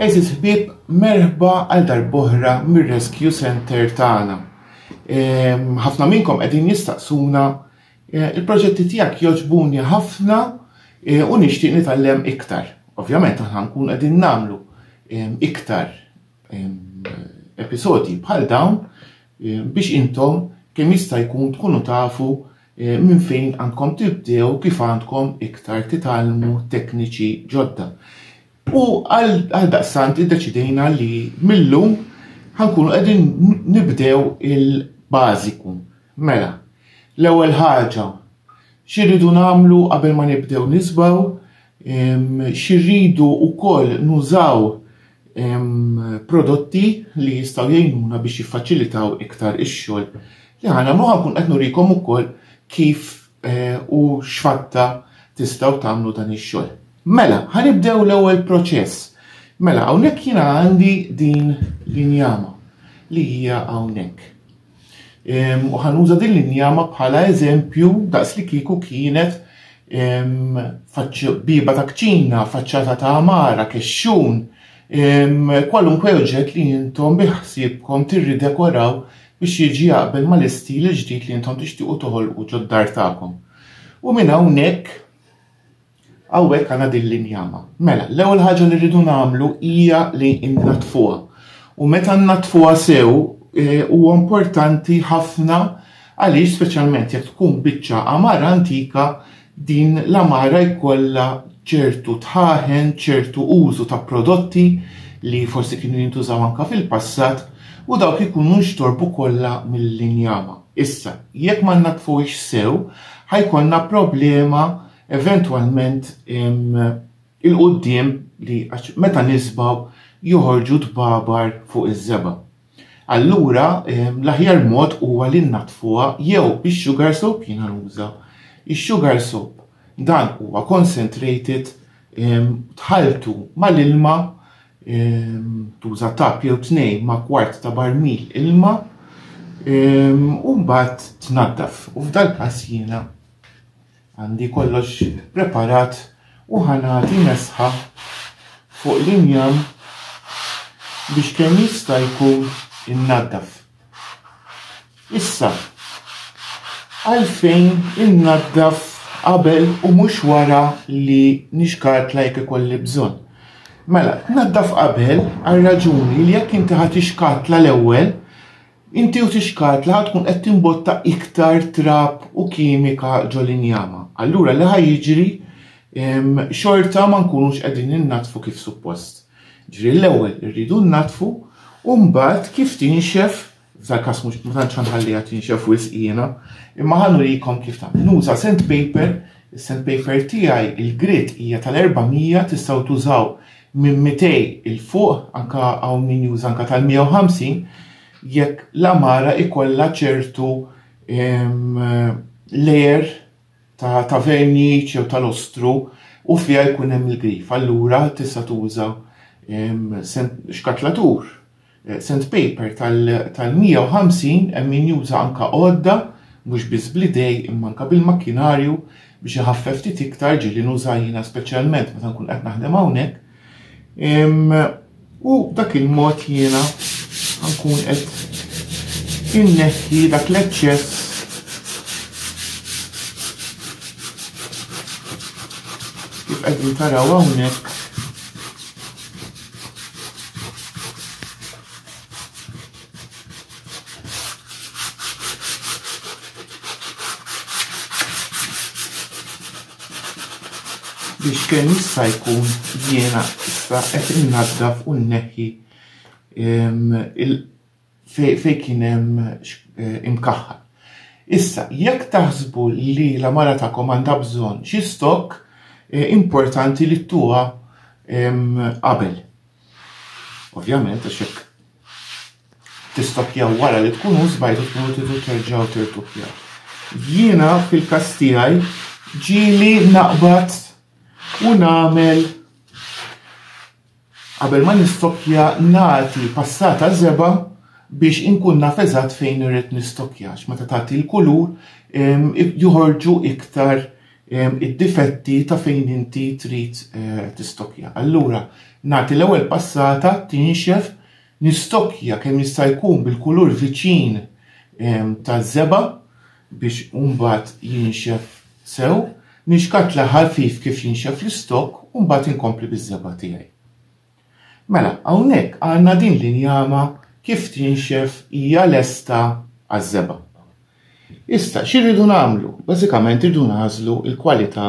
Eżis ħbib, merħba għal darbohra mir-Rescue Center tagħna. Ehm, ħafna minnkom qegħdin jistaqsuna eh, il-proġetti tiegħek joġbuni ħafna eh, u nixtieq nitgħallem iktar. Ovvjament aħna nkun qegħdin nagħmlu ehm, iktar ehm, episodji bħal dawn biex intom kemm jista' jkun tkunu tafu minn fejn għandkom tibdew u kif għandkom iktar titgħallmu tekniċi ġodda. U għaldaqstant iddeċidejna li mil-lum ħa nkunu qegħdin nibdew il-bażiku. Mela, l-ewwel ħaġa x'irridu nagħmlu qabel ma nibdew nisbaw? xi rridu wkoll nużaw prodotti li jistgħu jgħinuna biex jiffaċilitaw iktar ix-xogħol li ħana ma ħankun qed nurikom ukoll kif eh, u x'fatta tistgħu tagħmlu dan ix-xogħol. Mela, ħanibdew l-ewwel proċess. Mela, hawnhekk jiena għandi din l-injama li hija hawnhekk. U ħanuża din l-injama bħala eżempju daqs li kieku kienet biba ta' kċina, faċċata ta' amara, kexxun, kwalunkwe oġġett li jintom biħsibkom tirridekoraw biex jiġi jaqbel mal-istil ġdid li jintom tixtiqu toħolqu ġod-dar tagħkom. U minn hawnhekk Hawnhekk għandna din l-injama. Mela, l-ewwel ħaġa li rridu nagħmlu hija li nnatfuha. U meta nnatfuha sew eh, huwa importanti ħafna għaliex speċjalment jekk tkun biċċa amara antika din l-amara jkollha ċertu tħaħen, ċertu użu ta' prodotti li forsi kienu jintużaw anka fil-passat u dawk ikunu nxtorbu kollha mill-injama. Issa, jekk ma natfux sew, ħajkonna problema eventwalment il-quddiem li għax meta nisbaw joħorġu tbabar fuq iż-żeba. Allura l-aħjar mod huwa li nnatfuha jew bix-sugar soap jiena nuża. Ix-sugar soap dan huwa concentrated tħalltu mal-ilma tuża tap jew tnejn ma' kwart ta' barmil ilma u mbagħad tnaddaf u f'dal-każ jiena Għandi kollox preparat u ħa nagħti mesħa fuq l-injam biex kemm jista' jkun innaddaf. Issa, għalfejn innaddaf qabel u mhux wara li nixkartla jekk ikolli bżonn? Mela, tnaddaf qabel għal raġuni li jekk inti ħa tixkatla l-ewwel, Inti u tixkart li ħa tkun qed timbotta iktar trab u kimika ġol injama. Allura li ħa jiġri xorta ma nkunux qegħdin innatfu kif suppost. Ġri l-ewwel irridu nnatfu u mbagħad kif tinxef f'dal każ mhux ma tantx ħanħalliha tinxef wisq jiena, imma ħa nurikom kif tagħmel. Nuża sandpaper, is-sandpaper tiegħi il-grit hija tal-400 tistgħu tużaw minn 200 'il fuq, anke hawn min juża anke tal-150, jekk l-għamara jkollha ċertu layer ta' verniċ jew tal-ostru u fiha jkun hemm il-grif. Allura tista' tuża xkatlatur Sandpaper tal-150 hemm min juża anke għodda mhux biss bl-idej imma anke bil-makkinarju biex iħaffef ftit iktar, ġieli nuża jiena speċjalment meta nkun qed naħdem hawnhekk. U dak il-mod jiena nkun qed inneħħi dak l-eċċess kif qegħdin taraw hawnhekk biex kemm jista' jkun jiena issa qed innaddaf u nneħħi fejn kien hemm eh, imkaħħal. Issa, jekk taħsbu li la mara tagħkom għandha bżonn xi stokk, eh, importanti li tuha qabel. Ovvjament, għax hekk tistokjaw wara li tkun użbajtu tkunu tidu terġgħu tirtupjaw. Jiena fil-każ tiegħi ġieli naqbad u nagħmel Qabel ma nistokkja nagħti passata żebgħa biex inkun naf eżatt fejn irrid nistokkja għax meta tagħti l-kulur joħorġu iktar id-difetti ta' fejn inti trid eh, tistokkja. Allura nagħti l-ewwel passata tinxef nistokkja kemm jista' jkun bil-kulur viċin taż-żebgħa biex hu mbagħad jinxef sew, nixkatla ħafif kif jinxef l-istokk u mbagħad inkompli biż-żebgħa tiegħi. Mela, hawnhekk għandna din l-injama kif tinxef hija lesta għaż-żebgħa. Issa, xi rridu nagħmlu? Bażikament irridu nagħżlu l-kwalità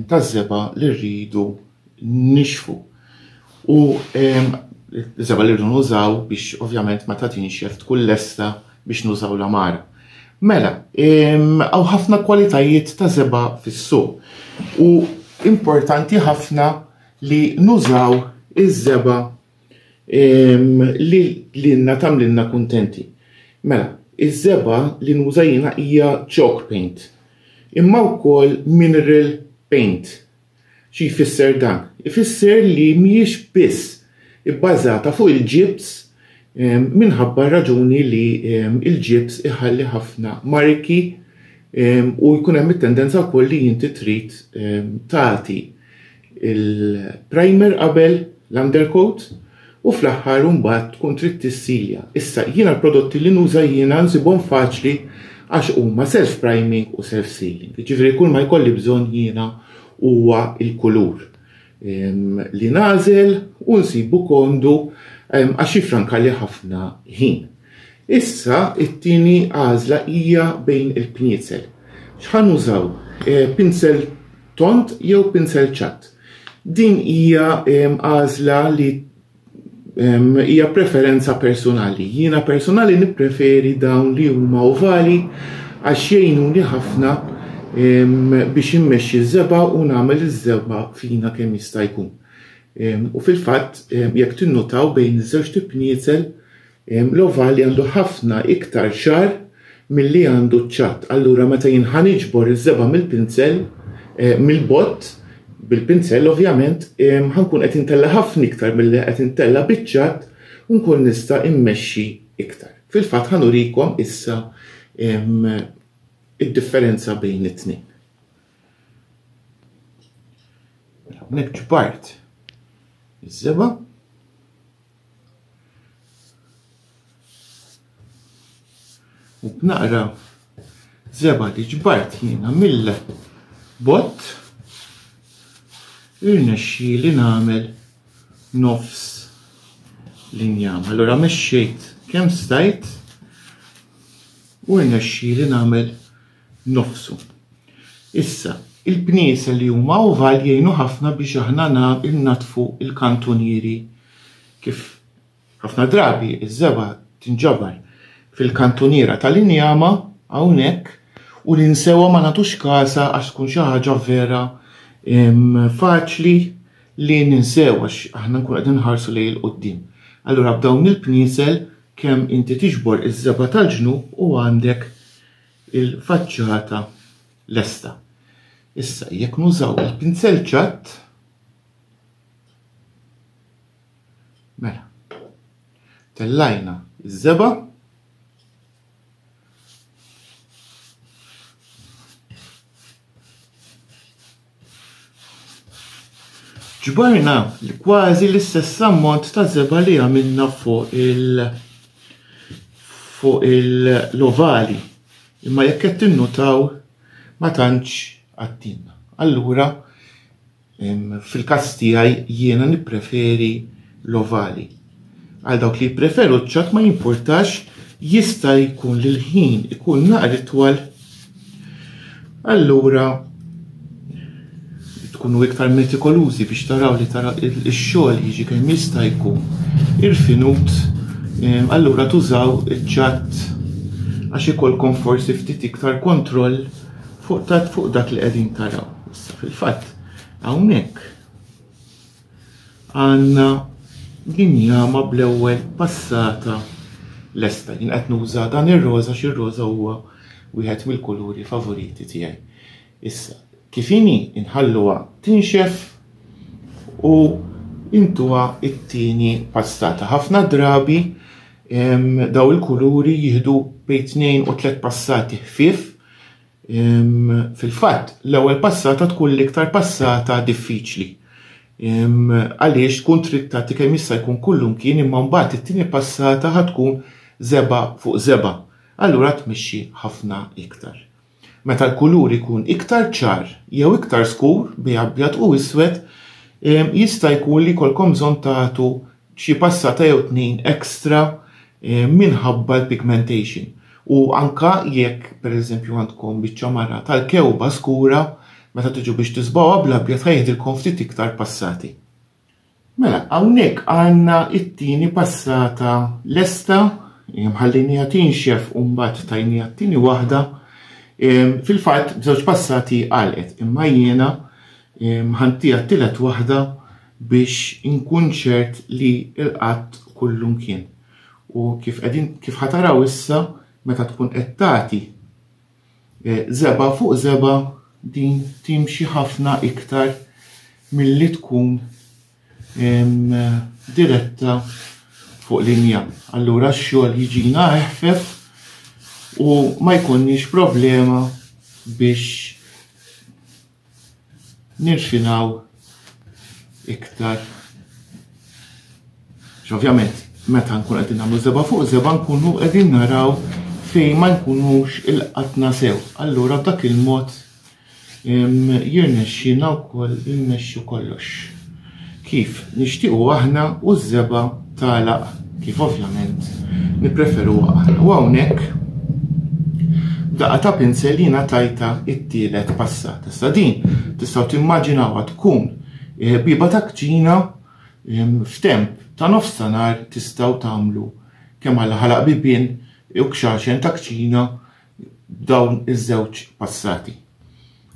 taż-żebgħa li rridu nixfu. U żebgħa li rridu nużaw biex ovvjament meta tinxef tkun lesta biex nużaw l-amar. Mela, għaw ħafna kwalitajiet ta' żebgħa fis-suq u importanti ħafna li nużaw iż-żebgħa li lilna tagħmlilna kuntenti. Mela, iż-żebgħa li nuża jiena hija chalk paint, imma wkoll mineral paint. Xi jfisser dan? Ifisser li mhijiex biss ibbażata fuq il-ġibs minħabba raġuni li l-ġibs iħalli ħafna marki u jkun hemm it-tendenza wkoll li inti trid tagħti il-primer qabel l-undercoat u fl-aħħar mbagħad tkun trid tissilja. Issa jiena l-prodotti li nuża jiena nsibhom faċli għax huma self priming u self sealing. Ġifieri kull ma jkolli bżonn jiena huwa il-kulur ehm, li nażel u nsibu kondu ehm, għax jifranka li ħafna ħin. Issa it-tieni għażla hija bejn il-pniezel. X'ħan użaw? Eh, pinsel tond jew pinsel ċatt. Din hija għażla li hija preferenza personali. Jiena personali nippreferi dawn li huma ovali għax jgħinuni ħafna biex immexxi ż-żeba u nagħmel iż-żeba fina kemm jista' jkun. U fil-fatt jekk tinnutaw bejn iż-żewġ tipniezel Mlova li għandu ħafna iktar xagħar milli għandu ċ-ċatt. Allura meta jien ħa niġbor iż-żebgħa mill-pinsell, mill-bott, bil-pinsell ovvjament, ħa nkun qed intella' ħafna iktar milli qed intella' biċ-ċatt u nkun nista' immexxi iktar. Fil-fatt ħa nurikom issa id-differenza bejn it-tnejn. Mela hawnhekk ġbart iż-żebgħa. Naqra zeba li ġbart jiena mill bot irnexxi li nagħmel nofs l-injam. Allora mexxejt kemm stajt u rnexxi li nagħmel nofsu. Issa, il-pniesel li huma oval jgħinu ħafna biex aħna nnaddfu l-kantunieri kif ħafna drabi ż-żebgħa tinġabar fil-kantuniera tal-injama hawnhekk u ninsewha ma nagħtux kasha għax tkun xi ħaġa vera faċli li ninsew għax aħna nkunu qegħdin nħarsu lejn il-quddiem. Allura b'dawn il-pniesel kemm inti tiġbor iż-żebgħa tal-ġnub u għandek il-faċċata lesta. Issa, jekk nużaw il-pinzel ċatt, mela, tellajna iż-żeba, Ġbarna kważi l-istess ammont ta' zeba li għamilna fuq il- fuq il-lovali. Imma jekk qed tinnutaw ma tantx għattilna. Allura fil-każ tiegħi jiena nippreferi l-ovali. Għal dawk li jippreferu ċ-ċat ma jimpurtax jista' jkun li l-ħin ikun naqra itwal. Allura tkunu iktar metikolużi biex taraw li tara x-xogħol jiġi kemm jista' jkun irfinut, eh, allura tużaw iċ-ċat għax ikolkom forsi ftit iktar kontroll fuq dak li qegħdin taraw. Issa fil-fatt hawnhekk Għandna din jama bl-ewwel passata lesta. Jien qed nuża dan ir-roża għax ir-roża huwa wieħed mill-kuluri favoriti tiegħi. Issa, kif inhi inħalluha tinxef u intuha t-tieni passata. Ħafna drabi daw il-kuluri jieħdu bejn tnejn u tliet passati ħfief Fil-fatt, l-ewwel passata tkun l-iktar passata diffiċli. Għaliex tkun trid tagħti kemm jista' jkun kullimkien imma mbagħad it-tieni passata ħa tkun żeba' fuq żeba'. Allura tmexxi ħafna iktar. Meta l-kulur ikun iktar ċar jew iktar skur bej abjad u iswed, jista' jkun li jkollkom bżonn tagħtu xi passata jew tnejn extra minħabba l-pigmentation u anke jekk pereżempju għandkom biċċa mara tal-kewba skura meta tiġu biex tisbgħuha bl-abjad ħa jiħdilkom ftit iktar passati. Mela, hawnhekk għandna t-tieni passata lesta, ħallejniha tinxef u mbagħad tajniha t-tieni waħda. Fil-fatt b'żewġ passati għalqet, imma jiena Mħantiha t-tielet waħda biex inkun ċert li rqadt kullumkien. U kif qegħdin kif ħataraw issa meta tkun qed tagħti żebgħa fuq żebgħa din timxi ħafna iktar milli tkun diretta fuq linja. Allura x-xogħol jiġina eħfef u ma jkollniex problema biex nirfinaw iktar. Ovvjament, meta nkun qed nagħmlu seba' fuq seba' nkunu qegħdin naraw fejn ma nkunux il-qatna sew. Allura b'dak il-mod jirnexxina wkoll immexxu kollox. kif nixtiequ aħna u ż-żebgħa tagħlaq kif ovvjament nippreferuha aħna. U hawnhekk b'daqqa ta' pinsel jiena tajta it-tielet passata. Issa din tistgħu timmaġinawha tkun eh, biba ta' kċina f'temp ta' nofstanhar tistgħu tagħmlu kemm għal ħalaq bibien u kxaxen ta' kċina dawn iż-żewġ passati.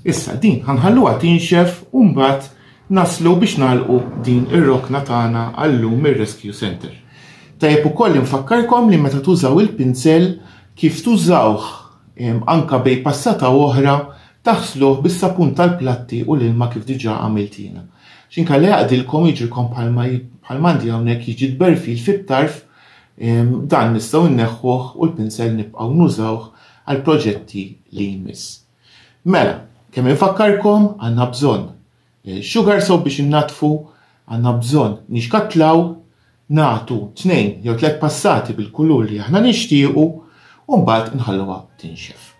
Issa din ħanħalluha tinxef u mbagħad naslu biex nagħlqu din ir-rokna tagħna għallum ir-Rescue Center. Tajjeb ukoll infakkarkom li meta tużaw il-pinsel kif tużawh anka bej passata oħra taħsluh bis-sapun tal-platti u l-ilma kif diġà għamilt jiena. X'inkalla jaqdilkom jiġilkom bħalma bħalmandi hawnhekk jiġi tberfil fit-tarf Dan nistgħu nneħħuh u l-pinsell nibqgħu nużawh għall-proġetti li jmiss. Mela, kemm infakkarkom għandna bżonn eh, sugar soap biex innaddfu, għandna bżonn nixkatlaw, nagħtu tnejn jew tliet passati bil-kulur li aħna nixtiequ u mbagħad inħalluha tinxef.